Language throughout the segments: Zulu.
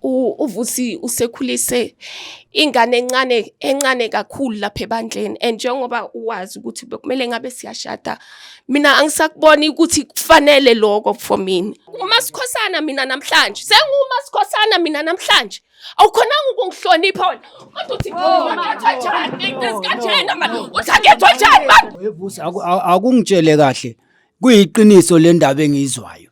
uvusi usekhulise ingane encane encane kakhulu lapha ebandleni and njengoba uwazi ukuthi bekumele ngabe siyashada mina angisakuboni ukuthi kufanele lokho for mina umasikhosana mina namhlanje sengumasikhosana mina namhlanje awukhonanga ukungihlonipha wena kodwa uthi ngiyethwa njani ngesikhathena manje uthi angethwa njani manje akungitshele kahle kuyiqiniso le ndaba engiyizwayo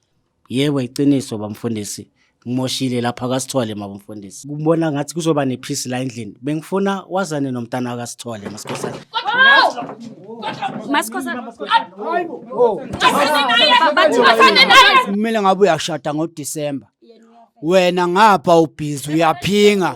Yebo iqiniso bamfundisi ngimoshile lapha kasithole mabamfundisi. Kubona ngathi kuzoba nephisi la endlini. Bengifuna wazane nomntana kasithole masikhosana. Masikhosana. Kumele ngabe uyashada ngoDisemba. Wena ngapha ubhizi uyaphinga.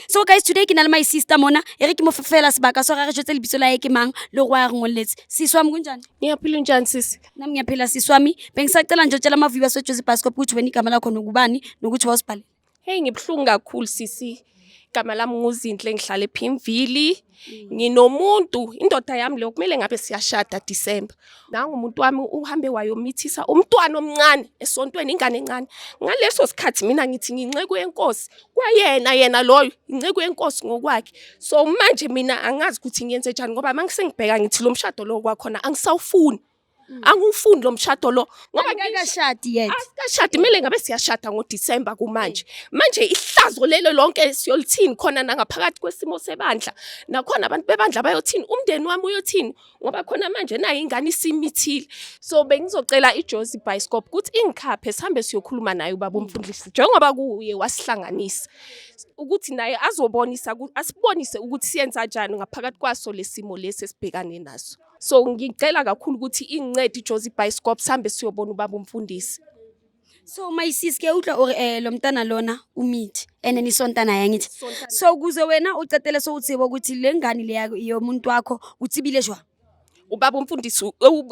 so guys today ke na le my sister mona e re ke mo fela sebaka so ga re jetse lebitso la ye ke mang le go a re ngoletse siswami kunjani ngiyaphila unjani sisi nami ngiyaphila siswami bengisacela nje utshela amaviwa swejezi pascop ukuthi wena igama lakho nokubani nokuthi wawusibhale heyi ngibuhlungu kakhulu sisi igama lami nguzinhle ngihlale phimvili nginomuntu indoda yami leyo kumele ngabe siyashada December nangu umuntu wami uhambe wayomithisa umntwana omncane esontweni ingane encane ngaleso sikhathi mina ngithi nginceku yenkosi kwayena yena loyo inceku yenkosi ngokwakhe so manje mina angazi ukuthi ngiyenze njani ngoba mangise ngibheka ngithi lo mshado lo kwakhona angisawufuni Mm. angiwufundi lo mshado lo ngoba ngekashadi yet asikashadi kumele ngabe siyashada ngoDecember kumanje mm. manje ihlazo lelo lonke siyolithini khona nangaphakathi kwesimo sebandla nakhona abantu bebandla bayothini umndeni wami uyothini ngoba khona manje nayo ingane isimithile so bengizocela iJozi Bioscope ukuthi ingikhaphe sihambe siyokhuluma naye ubaba umfundisi njengoba kuye wasihlanganisa ukuthi naye azobonisa asibonise ukuthi siyenza kanjani ngaphakathi kwaso lesimo lesi esibhekane naso so ngicela kakhulu ukuthi ingincede ijozi ibhayisikop sihambe siyobona ubaba umfundisi so my sis ke utlwa ore eh lo mntana lona umithi and nisontana yangithi so kuze wena ucetele so utsibo ukuthi le ngane le yakho yomuntu wakho utsibile jwa ubaba umfundisi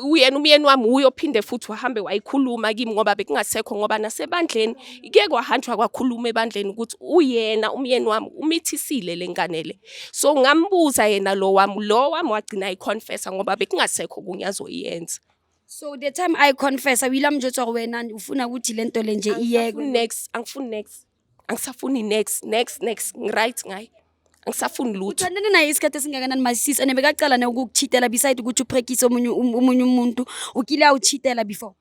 uyena umyeni wami uyophinde futhi wahambe wayikhuluma kimi ngoba bekungasekho ngoba nasebandleni kuye kwahanjwa kwakhuluma ebandleni ukuthi uyena umyeni wami umithisile le ngane le so ngambuza yena lo wami lo wami wagcina ayiconfessa ngoba bekungasekho kunye azoyenza so the time i confessa wila mjotsa wena ufuna ukuthi lento le nje iyekwe next angifuni next angisafuni next next next ngiright ngayi angisafuni lutho uthandane naye isikhathi esingakanani masisi ene bekaqala ne ukukuchitela beside ukuthi uphrekise omunye um- omunye umuntu ukile awuchitela before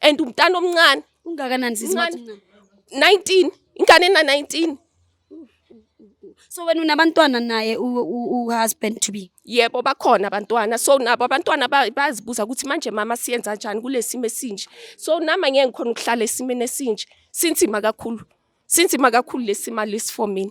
and umntana omncane ungakanani sisi Mncane. Mathi mncane? 19 ingane ena 19 so wena unabantwana naye u- u- u-husband to be yebo bakhona abantwana so nabo abantwana ba- bayazibuza ukuthi manje mama siyenza njani kulesimo esinje so nama ngeke ngikhona ukuhlala esimeni esinje sinzima kakhulu Sinzima kakhulu lesimali lesi for mina.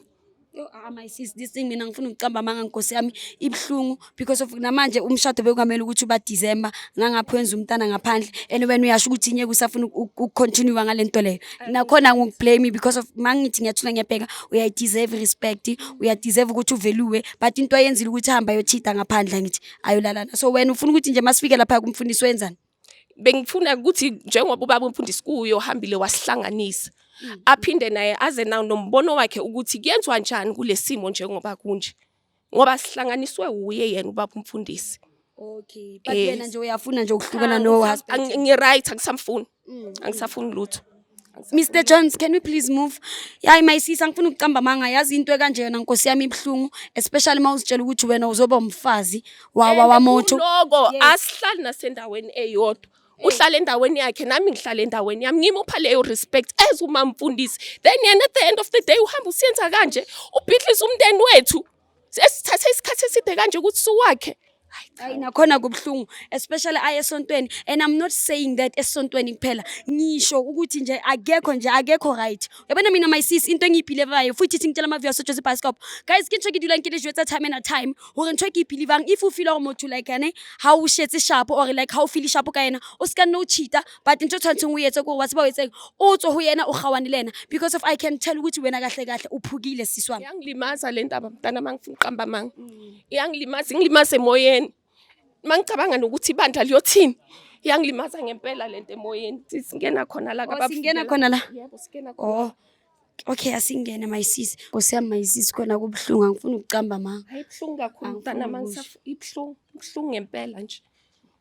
Yo, ah, my sis, this thing mina ngifuna ukucamba amanga nkosi yami ibuhlungu because of namanje umshado bekungamele ukuthi uba December ngangapha wenza umntana ngaphandle and wena uyasho ukuthi nyeke usafuna ukucontinue ngale nto leyo nakhona ngikublame because of mangithi ngiyathula ngiyabheka uya deserve respect uya deserve ukuthi uveluwe but into ayenzile ukuthi hamba yochita ngaphandle ngithi ayolalana so wena ufuna ukuthi nje masifike lapha kumfundisi wenzani bengifuna ukuthi njengoba ubaba umfundisi kuye ohambile wasihlanganisa mm. aphinde naye aze nawo nombono wakhe ukuthi kuyenziwa njani kulesimo njengoba kunje ngoba sihlanganiswe uye yena ubaba umfundisi okay but yena nje uyafuna nje ukuhlukana no husband ngi right akusamfuni mm. angisafuni lutho Mr Jones can we please move yayi mayisisa ngifuna ukuqamba amanga yazi into ekanje yona nkosi yami ibuhlungu especially uma uzitshela ukuthi wena uzoba umfazi wawa wamotho loko asihlali nasendaweni eyodwa uhlala endaweni yakhe nami ngihlala endaweni yami ngimupha leyo respect as umamfundisi then yena at the end of the day uhamba usiyenza kanje ubhidlisa umnteni wethu esithathe isikhathi eside kanje ukuthi suwakhe hayi nakhona kubuhlungu especially aye esontweni and i'm not saying that esontweni kuphela ngisho ukuthi nje akekho nje akekho right yabona mina my sis into engiyibhilivayo futhi ithi ngitshela ama-view asojose ibhasikop guys ke ntho ke dula nkele jwetsa time ena time gore ntho ke ibhilivang if o feel gore motho like ene ga o shetse shapo or like ga o feel shapo ka ena o seka nne o cheater but ntho tshwanetseng o etse kore wa tseba o etseng o tswe ho yena o kgawane le ena because of i can tell ukuthi wena kahle kahle o phukile siswana iyangilimaza le ndaba mntana ma ngifuna uqamba manga mm. iyangilimaza ingilimaza emoyeni ma ngicabanga nokuthi ibandla liyothini iyangilimaza ngempela le nto emoyeni singena khona la oh, singena khona la yebo singena khona oh okay asingene my sis nkosi yami my sis khona kubuhlungu angifuni ukucamba ma hayi buhlungu kakhulu mntana ma ngisafuna ibuhlungu buhlungu ngempela nje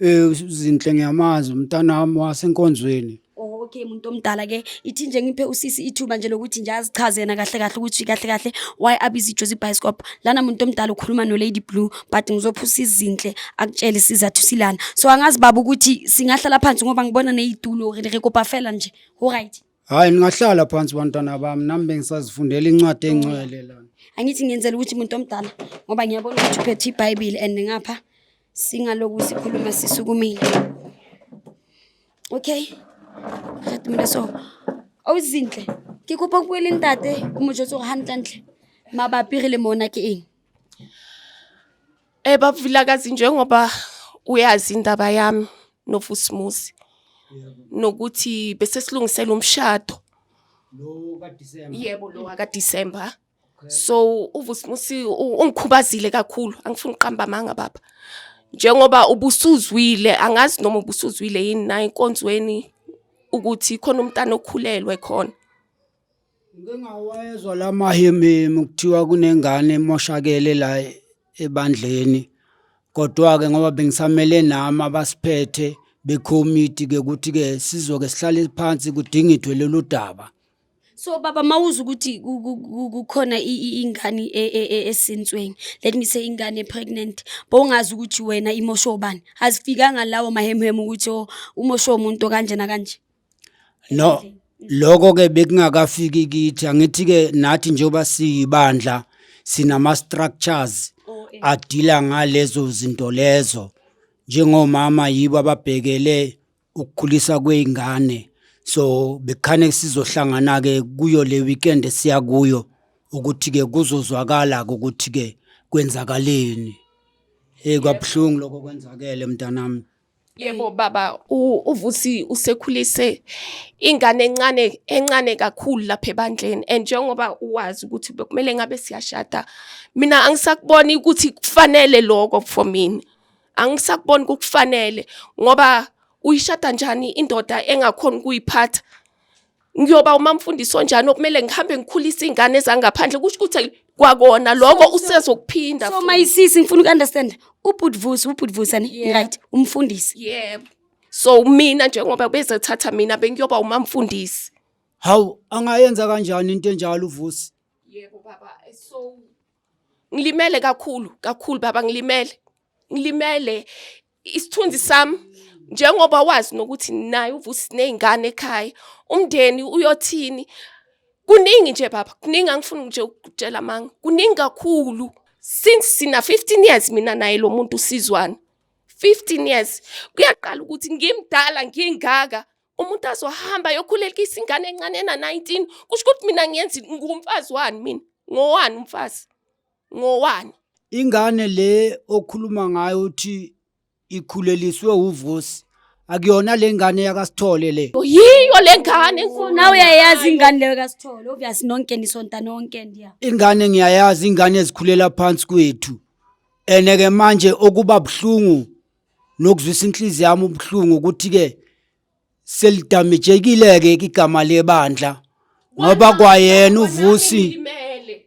Eh uzinhle ngiyamazi umntanami wasenkonzweni. Oh, okay muntu omdala ke ithi nje ngiphe usisi ithuba nje lokuthi nje azichaze yena kahle kahle ukuthi kahle kahle why abiza ijozi bioscope lana muntu omdala ukhuluma no lady blue but ngizophusa izinhle akutshele isizathu silana so angazi baba ukuthi singahlala phansi ngoba ngibona nezitulo re re kopa fela nje all right Hayi ningahlala phansi bantwana bami nami bengisazifundela incwadi engcwele lana. angithi ngiyenzela ukuthi muntu omdala ngoba ngiyabona ukuthi uphethe ibhayibheli and ngapha Singaloku sikhuluma sisukumile. Okay? Khatumile so. Awuzinhle. Ke kopa bue le ntate o mo jotse gore hantlentle mabapi re le mona ke eng? Eh baba Vilakazi njengoba uyazi indaba yami noFusimuzi nokuthi bese silungisela umshado. Lo ka December. Yebo lo waka December. so uvusimusi ungikhubazile kakhulu angifuni uqamba amanga baba njengoba ubusuzwile angazi noma ubusuzwile yini naye enkonzweni ukuthi khona umntana okhulelwe khona ngingawezwa la mahemhemu kuthiwa kunengane emoshakele la ebandleni kodwa-ke ngoba bengisamele nami abasiphethe bekhomiti-ke ukuthi-ke sizoke sihlale phansi kudingidwe lolu daba so baba mawuza ukuthi kukhona ingane e, e, e, esintsweni let me say ingane pregnant bowungazi ukuthi wena imosho ubani azifikanga lawo mahemhemu ukuthi oh, umosho umuntu kanje na kanje no lokho ke bekungakafiki kithi angithi ke nathi njengoba siyibandla sinama structures oh, eh. adila ngalezo zinto lezo njengomama yibo ababhekele ukukhuliswa kwey'ngane so bekukhane sizohlangana-ke kuyo le weekend esiya kuyo ukuthi-ke kuzozwakala-ke ukuthi-ke kwenzakaleni heyi kwabuhlungu lokho kwenzakele mntanami yebo baba uvusi usekhulise ingane encane encane kakhulu lapha ebandleni and njengoba uwazi ukuthi bekumele ngabe siyashada mina angisakuboni ukuthi kufanele lokho for mina angisakuboni kukufanele ngoba uyishada njani indoda engakhona ukuyiphatha ngiyoba umamfundisi onjani okumele ngihambe ngikhulise iy'ngane zangaphandle kusho ukuthi kwakona loko usezokuphinda so my sisi ngifuna uku-understand ubhudvusi ubhudvusa ni Yeah. right umfundisi yebo so mina njengoba bezothatha mina bengiyoba umamfundisi Hawu angayenza kanjani into enjalo uVusi? yebo baba so Ngilimele kakhulu kakhulu baba ngilimele. Ngilimele isithunzi sami njengoba wazi nokuthi naye uvusi nezingane ekhaya umndeni uyothini kuningi nje baba kuningi angifuni nje ukutshela amanga kuningi kakhulu since sina 15 years mina naye lo muntu usizwana 15 years kuyaqala ukuthi ngimdala ngingaka umuntu azohamba ayokhulekisa ingane encane ena-19 kusho ukuthi mina ngiyenzi ngumfazi wani mina ngowani umfazi ngowani ingane le okhuluma ngayo uthi ikhuleliswe uvusi akuyona le ngane yakasithole le yiyo le ngane nawe uyayazi ingane leyo kasithole obvious nonke nisonta nonke ndiya ingane ngiyayazi ingane ezikhulela phansi kwethu ene-ke manje okuba buhlungu nokuzwisa inhliziyo yami ubuhlungu ukuthi-ke selidamejekile-ke igama lebandla ngoba kwayena uvusi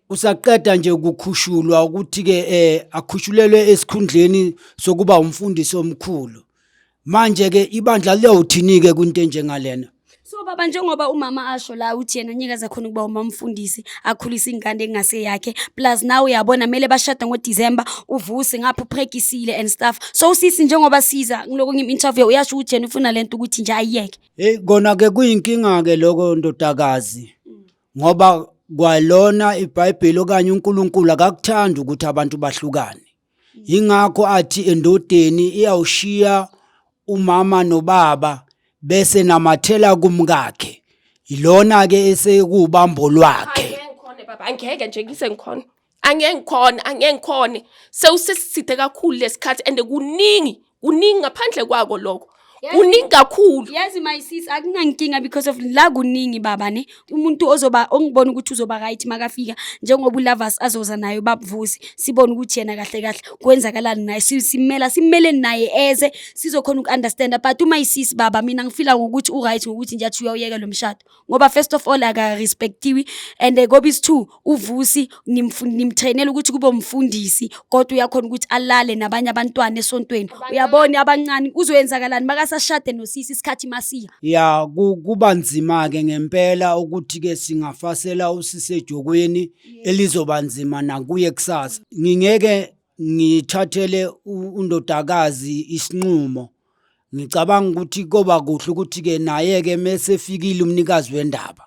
usaqeda nje ukukhushulwa ukuthi-ke um akhushulelwe esikhundleni sokuba umfundisi omkhulu manje-ke ibandla liyawuthini-ke kwinto enjengalena so baba njengoba umama asho la uthi yena nyekaza khona ukuba umamfundisi akhulise ingane engase yakhe plus nawe uyabona mele bashada ngoDecember uvuse ngapha uphrekisile and stuff so usisi njengoba siza kuloko ngim interview uyasho ukuthi yena ufuna lento ukuthi nje ayiyeke hey kona ke kuyinkinga ke lokho ndodakazi ngoba kwalona iBhayibheli okanye uNkulunkulu akakuthandi ukuthi abantu bahlukane Yingakho athi endodeni iyawushiya umama nobaba bese namathela kumkakhe. Yilona ke esekuwubambo lwakhe. Angeke ngikhone baba, angeke nje ngise ngikhona. Angeke ngikhone, angeke ngikhone. Sewusesithe kakhulu lesikhathi and kuningi kuningi ngaphandle kwako lokho kuningi kakhulu yazi my sis akunankinga because of la kuningi baba ne umuntu ozoba ongibona ukuthi uzoba right makafika njengoba ulavas azoza naye ubabuvusi sibone ukuthi yena kahle kahle kwenzakalani naye si- simela simele naye eze sizokhona uku-understanda but uma isis baba mina ngifila ngokuthi u-right ngokuthi nje athi uyawuyeka lo mshado ngoba first of all akarespectiwi and kobisi two uvusi nimtrainela ukuthi kube umfundisi kodwa uyakhona ukuthi alale nabanye abantwana esontweni uyabona abancane kuzoyenzakalani makasashade nosisi isikhathi masiya ya kuba nzima-ke ngempela ukuthi-ke singafasela usisi ejokweni elizoba nzima nakuye kusasa ngingeke ngithathele undodakazi isinqumo Ngicabanga ukuthi koba kuhle ukuthi-ke naye-ke mesefikile umnikazi wendaba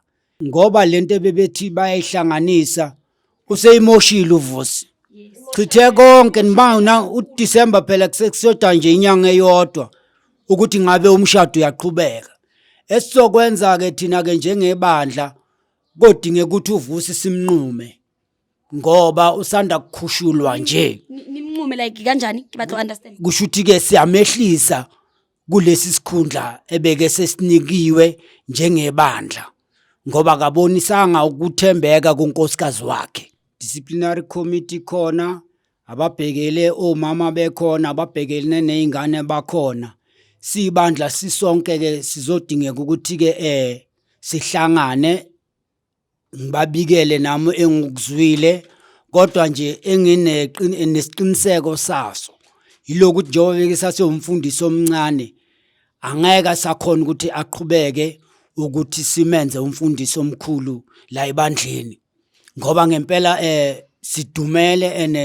ngoba le nto ebebethi bayayihlanganisa useyimoshile uvusi chithe konke nibana udisemba phela kusekusoda nje inyanga eyodwa ukuthi ngabe umshado uyaqhubeka esizokwenza-ke thina-ke njengebandla kodingeka ukuthi uvusi simnqume ngoba usanda kukhushulwa nje nimnqume like kanjani ngibathe understand kusho ukuthi ke siyamehlisa kulesi sikhundla ebeke sesinikiwe njengebandla ngoba akabonisanga ukuthembeka kunkosikazi wakhe disciplinary committee khona ababhekele omama bekhona ababhekele nezingane bakhona sibandla sisonke ke sizodingeka ukuthi ke eh sihlangane ngibabikele nami engikuzwile kodwa nje enginesiqiniseko saso yilokhu ukuthi njengoba beke sasewumfundisi omncane angeke asakhona ukuthi aqhubeke ukuthi simenze umfundisi omkhulu la ebandleni ngoba ngempela sidumele ene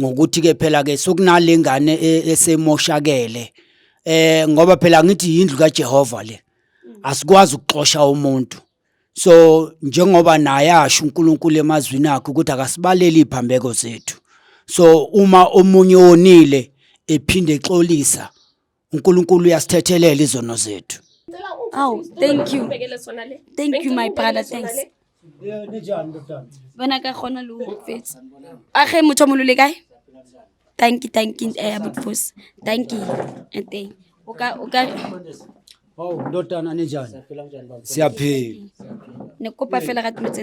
ngokuthi ke phela ke sokunalengane e, esemoshakele eh ngoba phela ngithi indlu kaJehova le asikwazi ukuxosha umuntu so njengoba naye asho uNkulunkulu emazwini akhe ukuthi akasibaleli iphambeko zethu so uma omunye onile ephinde exolisa uNkulunkulu uyasithethelela izono zethu Aw, thank you. Ubekele sona le. Thank you, my brother, thanks. bona ka kgona le ho fetsa a ge motho mo lole kae tanki tanki eh butfos tanki and then o ka o ka hawu ndodana ninjani siyaphila ne kopa fela ga tlo tse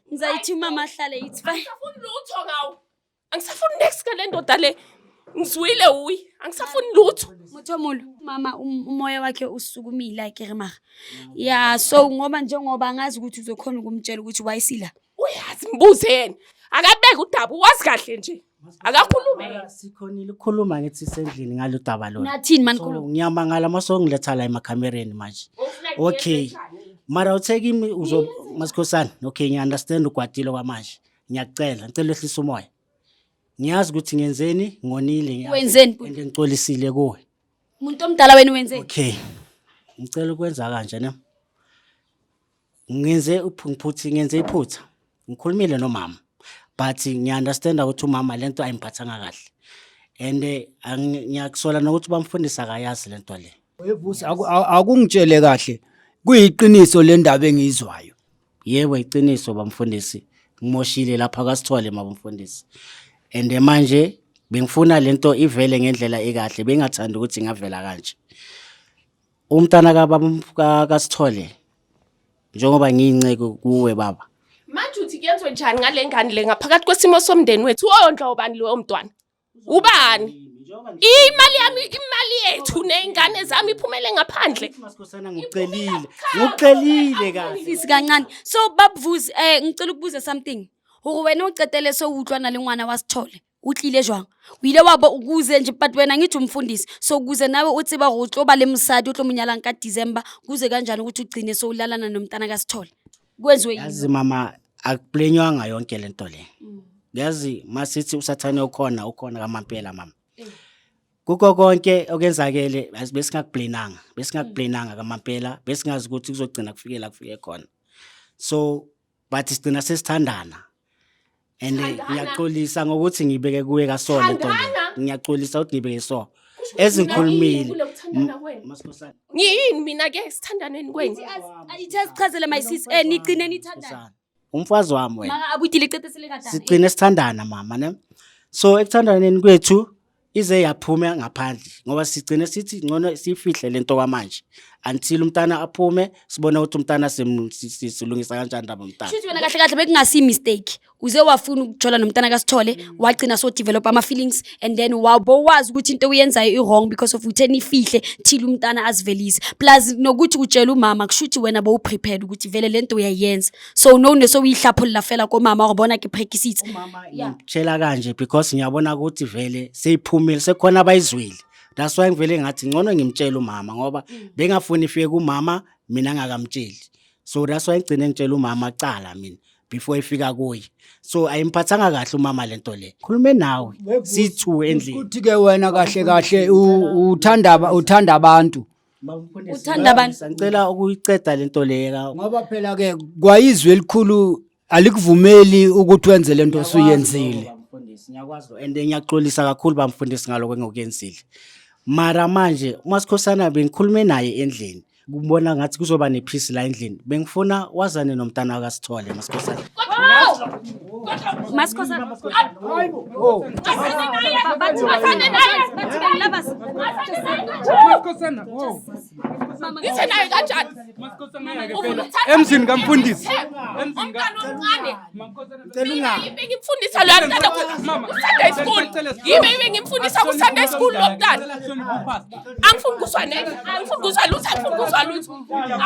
Ngizayithi umama ahlale it's fine. Angisafuni lutho ngawo. Angisafuni next ngale ndoda le. Ngizwile uyi. Angisafuni lutho. Muthomulo mama um- umoya wakhe usukumile like rimaga. Yeah so ngoba njengoba ngazi ukuthi uzokhona ukumtshela ukuthi wayisila. Uyazi mbuze yena. Akabeke udaba wazi kahle nje. akakhulume Mara, sikhonile ukukhuluma ngithi sendlini ngalo daba lona nathini mani so khuluma ngiyamangala uma songiletha la emakhamereni manje okay mara uthe kimi uzo masikhosana okay ngiunderstand ugwadile kwamanje ngiyakucela ngicela wehlisa umoya ngiyazi ukuthi ngenzeni ngonile ngiyazi. Wenzeni? and ngicolisile kuwe umuntu omdala wena wenzeni okay ngicela ukwenza kanje ne ngenze uph- ngiphuthi ngenze iphutha ngikhulumile nomama but ngiya-understanda ukuthi umama le nto ayimphathanga kahle and eh, angi- ngiyakusola nokuthi bamfundisa akayazi le nto le Wevusi aku- a- akungitshele kahle kuyiqiniso le ndaba engiyizwayo. yebo iqiniso bamfundisi ngimoshile lapha kasithole mabamfundisi and eh, manje bengifuna le nto ivele ngendlela ekahle bengingathandi ukuthi ingavela kanje Umntana kababa ka- kaSithole njengoba ngiyinceku kuwe baba. Manje uthi kuyenzwe njani ngale ngane le ngaphakathi kwesimo somndeni wethu oyondla ubani lowo mntwana? Ubani? Imali yami imali yethu nezingane zami iphumele ngaphandle. Masikhosana ngikucelile. Ngikucelile kahle. Sisi kancane. So babuvuzi eh ngicela ukubuza something. Hore wena ucetele so utlwana le ngwana wa Sithole. o tlile jwang o ile wa bo o kuze nje but wena ngithi umfundisi so kuze nawe o tseba gore o tlo ba le mosadi o tlo mo nyalang ka december kuze kanjani ukuthi ugcine so ulalana nomntana kasithole kwenziwe yini yazi mama akuplenywanga yonke le nto le yazi masithi usathane ukhona ukhona kamampela mama Eh. kuko konke okwenzakele yazi besingakuplenanga besingakuplenanga kamampela besingazi ukuthi kuzogcina kufikela kufike khona so but sigcina sesithandana and eh, Thandana. ngiyaxolisa ngokuthi ngibeke kuwe kasona Thandana. eqondeni ngiyaxolisa ukuthi ngibeke so ezingikhulumile Kule kuthandana M- kwenu. Masikhosana. ngiyini mina ke sithandaneni kwenu Ithi as- ithi asichazele my sis eh nigcine nithandana Masikhosana. umfazi wami wena maka abuyile icetesele kadala sigcine sithandana mama ne so ekuthandaneni kwethu ize yaphuma ngaphandle ngoba sigcine sithi ngcono sifihle lento kwamanje until umntana aphume sibone ukuthi umntana simu- si- si- silungisa kanjani ndaba umntana Shuthi wena kahle kahle bekungasi mistake. Uze wafuna ukuthola nomntana kaSithole, wagcina so develop ama feelings and then wabo wazi ukuthi into uyenzayo i wrong because of uthe nifihle thila umntana azivelise. Plus nokuthi utshela umama kushuthi wena bowuprepared ukuthi vele lento uyayenza. so no ne so o ihlapholla fela ko mama gore bona ke phekisitse Yeah. ngitshela kanje because ngiyabona ukuthi vele seyiphumile sekhona abayizwile that's why ngivele ngathi ngcono ngimtshele umama ngoba bengafuni ifike kumama mina ngakamtsheli so that's why ngigcine ngitshela umama cala mina before ifika kuye so ayimphathanga kahle umama lento le khulume nawe sithu endlini Kuthi ke wena kahle kahle u- uthanda aba- uthanda abantu Uthanda abantu. Ngicela ukuyiceda lento leyeka. Ngoba phela ke kwayizwe elikhulu alikuvumeli ukuthi wenze lento osuyenzile. Mfundisi ngiyakwazi and ngiyaxolisa kakhulu bamfundisi ngaloko engokuyenzile. Mara manje uma sikhosana bengikhulume naye endlini. Kubona ngathi kuzoba nephisi la endlini. Bengifuna wazane nomntana akasithole masikhosana. Masikhosa Ngithe naye kanjani? Emzini kamfundisi. Umntana omncane. Mina yibe ngimfundisa lo mntana ku Sunday school. Yibe ngimfundisa ku Sunday school lo mntana. angifuni kuzwa neke angifuni kuzwa lutho angifuni kuzwa lutho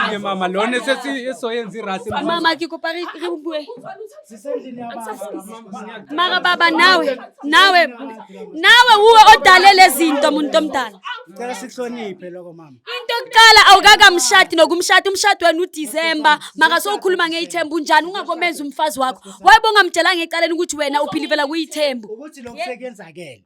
Ke mama lona sesi esoyenza irasi mama kikopa re re bue mara baba nawe nawe nawe uwe odale lezinto muntu omdala Ngicela sihloniphe lokho mama. into yokuqala awukakamshadi nokumshada umshado wena udisemba maka sowukhuluma ngeyithembu unjani ungakomenza umfazi wakho wayebongamtshelanga ecaleni ukuthi wena uphilivela kuyithembu Ukuthi lokusekenzakele.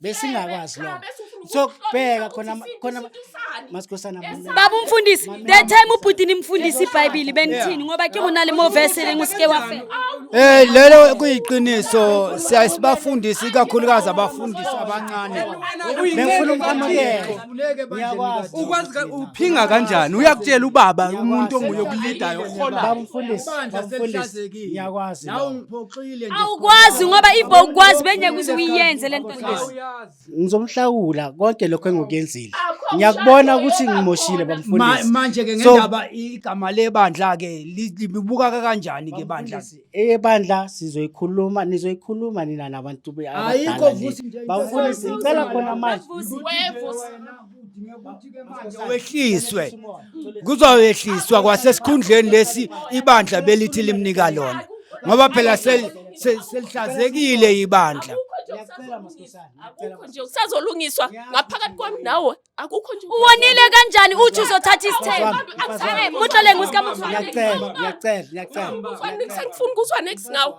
besingakwazi lokho sokubheka khona khona masikhosana baba umfundisi that time ubhuti nimfundisa ibhayibhili benithini ngoba ke kunale mo verse lenguske wafela eh lelo kuyiqiniso siyasibafundisa ikakhulukazi abafundisi abancane bengifuna umamukele ngiyakwazi ukwazi uphinga kanjani uyakutshela ubaba umuntu onguye kulidayo khona baba umfundisi baba umfundisi ngiyakwazi Uqalile nje. Awukwazi ngoba if bowukwazi bengeke uze uyiyenze le nto nje. Ngizomhlawula konke lokho engikuyenzile. Ngiyakubona ukuthi ngimoshile Ma- bamfundisi. Manje ke So- ngendaba igama lebandla ke li- libuka kanjani ke bandla? Bamfundisi, Eyebandla sizoyikhuluma nizoyikhuluma nina nabantu be- Ayikho abadala le. vusi nje. Bamfundisi ngicela khona manje. Wevusi. wehliswe kuzoyehliswa kwasesikhundleni lesi ibandla belithi limnika lona ngoba phela selihlazekile ibandla akukho nje kusazolungiswa ngaphakathi kwami nawe akukho nje uwonile kanjani uthi uzothatha isithembu mutlole ngusikamufanele ngiyacela ngiyacela ngiyacela ngifuna ukuzwa next ngawo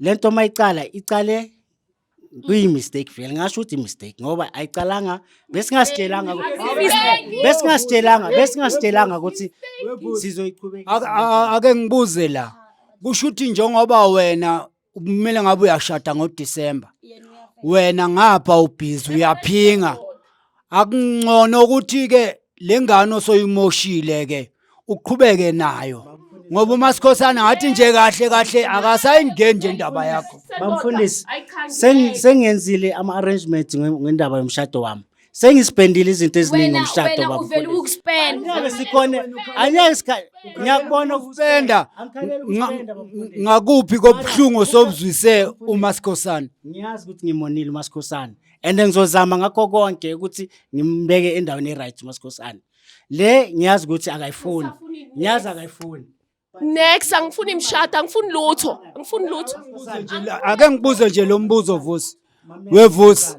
le nto uma icala icale kuyi-mistake vele ngasho ukuthi i-mistake ngoba ayicalanga besingasitshelanga besingasitshelanga besingasitshelanga ukuthi sizoyiqhubeka Ake- a- a- ake ngibuze la kusho ukuthi njengoba wena kumele ngabe uyashada ngodisemba wena ngapha ubhizi uyaphinga akuncono ukuthi-ke le ngane osoyimoshile-ke uqhubeke nayo ngoba uMasikhosana ngathi nje kahle kahle akasayingeni nje indaba yakho bamfundisi sengenzile ama arrangements ngendaba yomshado wami sengisipendile izinto eziningi ngomshado baba uvela ukuspenda ngeke sikhone anyeke sikhathi ngiyakubona ukuspenda ngakuphi kobuhlungu sobuzwise uma sikhosana ngiyazi ukuthi ngimonile uma sikhosana and ngizozama ngakho konke ukuthi ngimbeke endaweni e-right uma sikhosana le ngiyazi ukuthi akayifuni ngiyazi akayifuni next angifuni imshado angifuni lutho angifuni lutho ake ngibuze nje lo mbuzo vusi wevusi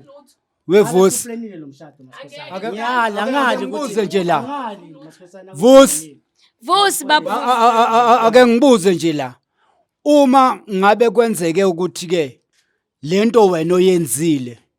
wevusi Uhlelile lo mshado, Masikhosana. Ake- Ngiyala, ngali ukuthi- Ngibuze nje la. Ngali, Masikhosana, Vusi. ngali. vusi babu A- a- a- a- a- ake ngibuze nje la uma ngabe kwenzeke ukuthi ke lento wena oyenzile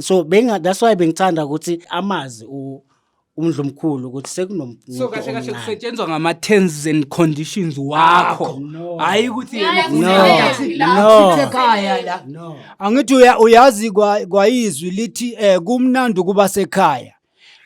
so benga that's why bengithanda ukuthi amazi u umdlumkhulu ukuthi sekunomuntu so kahle kahle kusetshenzwa ngama terms and conditions wakho hayi ukuthi angithi uyazi kwayizwi lithi um kumnandi ukuba sekhaya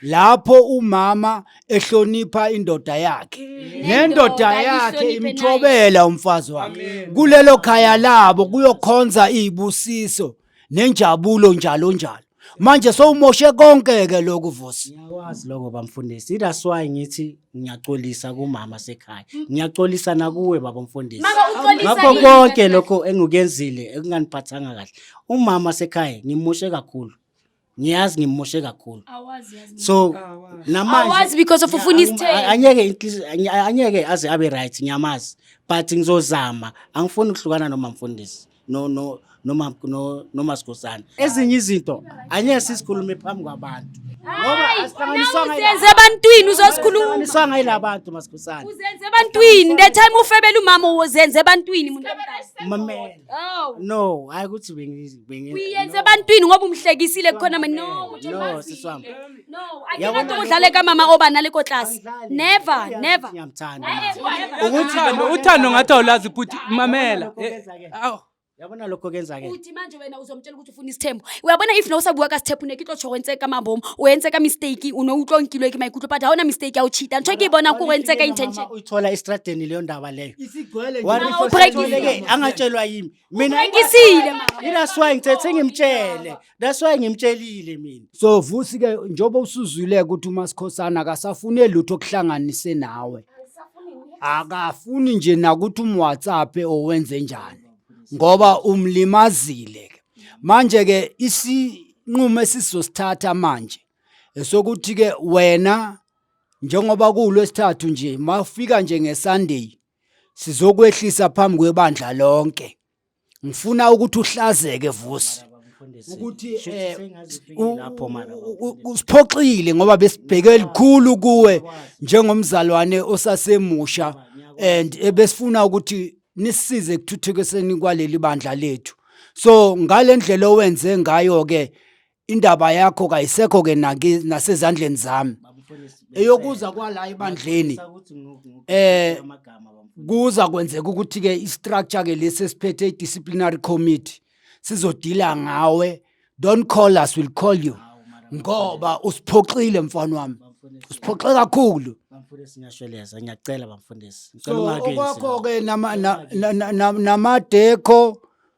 lapho umama ehlonipha indoda yakhe mm. nendoda yakhe imthobela umfazi wakhe kulelo khaya labo kuyokhonza izibusiso nenjabulo njalo njalo manje sowumoshe konke ke lokhu vusi ngiyakwazi lokho bamfundisi that's why ngithi ngiyaxolisa kumama sekhaya ngiyaxolisa nakuwe baba mfundisi ngakho konke lokho engikenzile ekunganiphathanga kahle umama sekhaya ngimoshe kakhulu ngiyazi ngimoshe kakhulu awazi yazi so namanje awazi because of ufuna isithelo anyeke inhliziyo- anye- anyeke aze abe right ngiyamazi but ngizozama angifuni ukuhlukana noma mfundisi no no noma no noma sigosana ezinye izinto anyeke sisikhulume phambi kwabantu ngoba asihlanganiswanga yila- uzenze ebantwini uzosikhuluma asihlanganiswanga yilabantu masigosana uzenze ebantwini the time ufebela umama uzenze ebantwini muntu mamela oh no hayi ukuthi bengizi Bengi- uyenze no, ebantwini ngoba umhlekisile kukhona ma- no Siswamane. ukuthi No, umazi. siswami. no Yabona akinanto lokho- udlale kamama oba nale kotlasi Angidlali. never Uyazi ukuthi never ngiyamthanda. Hayi, never. Ukuthi uthando noma- uthando ngathi awulazi bhuti mamela Lokho Eh, kwenza-ke. awu Yabona lokho kenzake. uthi manje wena uzomtshela ukuthi ufuna isithembu uyabona if nawusabuka ka sithephu ne kitlo tsho wentseka mambomo wentseka mistake uno utlo nkilwe ke maikutlo but haona mistake ya uchita ntho ke bona ku wentseka intention Uyithola estradeni leyo ndaba leyo. Isigcwele nje. Wari Mama, first ubreak athole-ke, izinto. angatshelwa yimi. mina Uphekisile mama. that's why ngithethe ngimtshele that's why ngimtshelile mina so vusi ke njengoba usuzwile ukuthi umasikhosana akasafune lutho okuhlanganise nawe akafuni nje nakuthi umwhatsapp owenze njani ngoba umlimazile ke manje ke isinqumo esizosithatha manje esokuthi ke wena njengoba kuwulwesithathu nje mafika nje ngesunday Sizokwehlisa phambi kwebandla lonke. Ngifuna ukuthi uhlazeke vusi. ukuthi eh lapho mara usiphoxile ngoba besibheke elikhulu kuwe njengomzalwane osasemusha and ebesifuna ukuthi nisize ekuthuthukiseni kwaleli bandla lethu so ngalendlela owenze ngayo ke indaba yakho kayisekho ke naki nasezandleni zami eyokuza kwala ebandleni eh kuza kwenzeka ukuthi ke istructure ke lesi siphethe disciplinary committee sizodila ngawe don't call us will call you ngoba usiphoxile mfana wami usiphoxe kakhulu bamfundisi ngiyashweleza ngiyacela bamfundisi ngicela so ungakini okwakho ke nama na- na- na- na- namadekho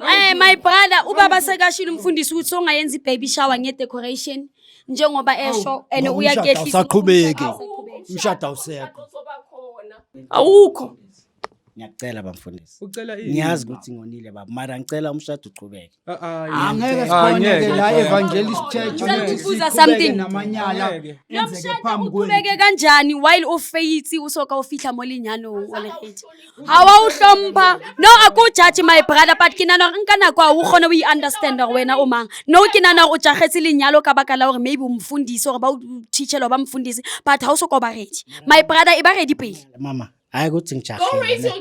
Eh my brother ubaba sekashilo umfundisi ukuthi songayenza ibaby shower nge decoration njengoba esho and Ngoba umshado uyakehlisa. awusaqhubeki. Umshado awusekho. Awukho. Ngiyakucela bamfundisi. Ucela ini? Ngiyazi ukuthi ngonile baba, mara ngicela umshado uqhubeke. Ah, ah, yeah. Angeke sikhoneke la evangelist church Ngicela ukuthi ukubuza siqhubeke something. namanyala Angeke. enzeke Lomshado phambi kwenu. uqhubeke kanjani while ufaith usoka ufihla molinyano walehethi. ga wa o hlompha no a ko judge my brother but ke nana gore nka nako a o kgone o i-understand gore wena o mang no ke nana gore o jagetse lenyalo ka baka la gore maybe o mfundise gore ba o teachelo ba mfundise but ga o soko ba redi my brother e ba redi pele mama hayi ukuthi ngijahile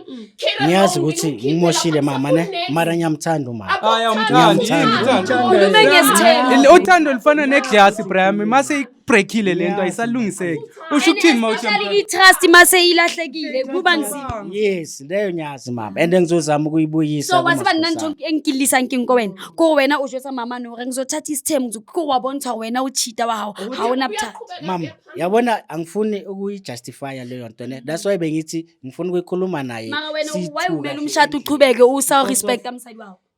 ngiyazi ukuthi ngimoshile mama ne mara ngiyamthanda umama Hayi, awumthandi, Ngiyamthanda. ngiyamthanda. Ukhulume ngesithembu. uthando lufana neglasi brami mase breakile le nto ayisalungiseki usho ukuthini ma uthi Especially i-trust uma seyilahlekile kuba nzima yes leyo nyazi mama and ngizozama ukuyibuyisa so waziba nna ntho kumaskhosana. engikillisang keng ko wena ko wena o jwetsa mamane gore ngizothatha isithembu ngizo- ko wa bontsha gore wena o cheata wa gago ga ona bothata mama yabona angifuni ukuyijustifya leyo nto ne that's why bengithi ngifuna ukuyikhuluma naye mara wena siyi-two wayewumela kahle. umshado uchubeke usa respecta msadi wawo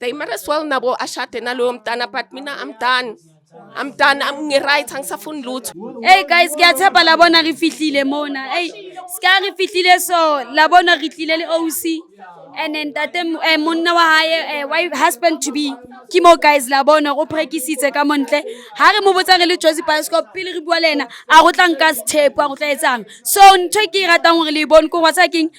they might as well nabo ashade naloyo mntana but mina i'm done i'm done I'm ngi-right angisafuni lutho Hey guys, ngiyathemba labona rifihlile mona. Hey, ska rifihlile so labona ritlile le OC and then tate eh, monna wa hae eh, wife husband to be. Ke mo guys labona go prekisitse ka montle. Ha re mo botsa re le Jozi Bioscope pele re bua le ena, a go tla nka sthepo a go tla etsang. So ntho e ke e ratang gore le e bone ko whatsa keng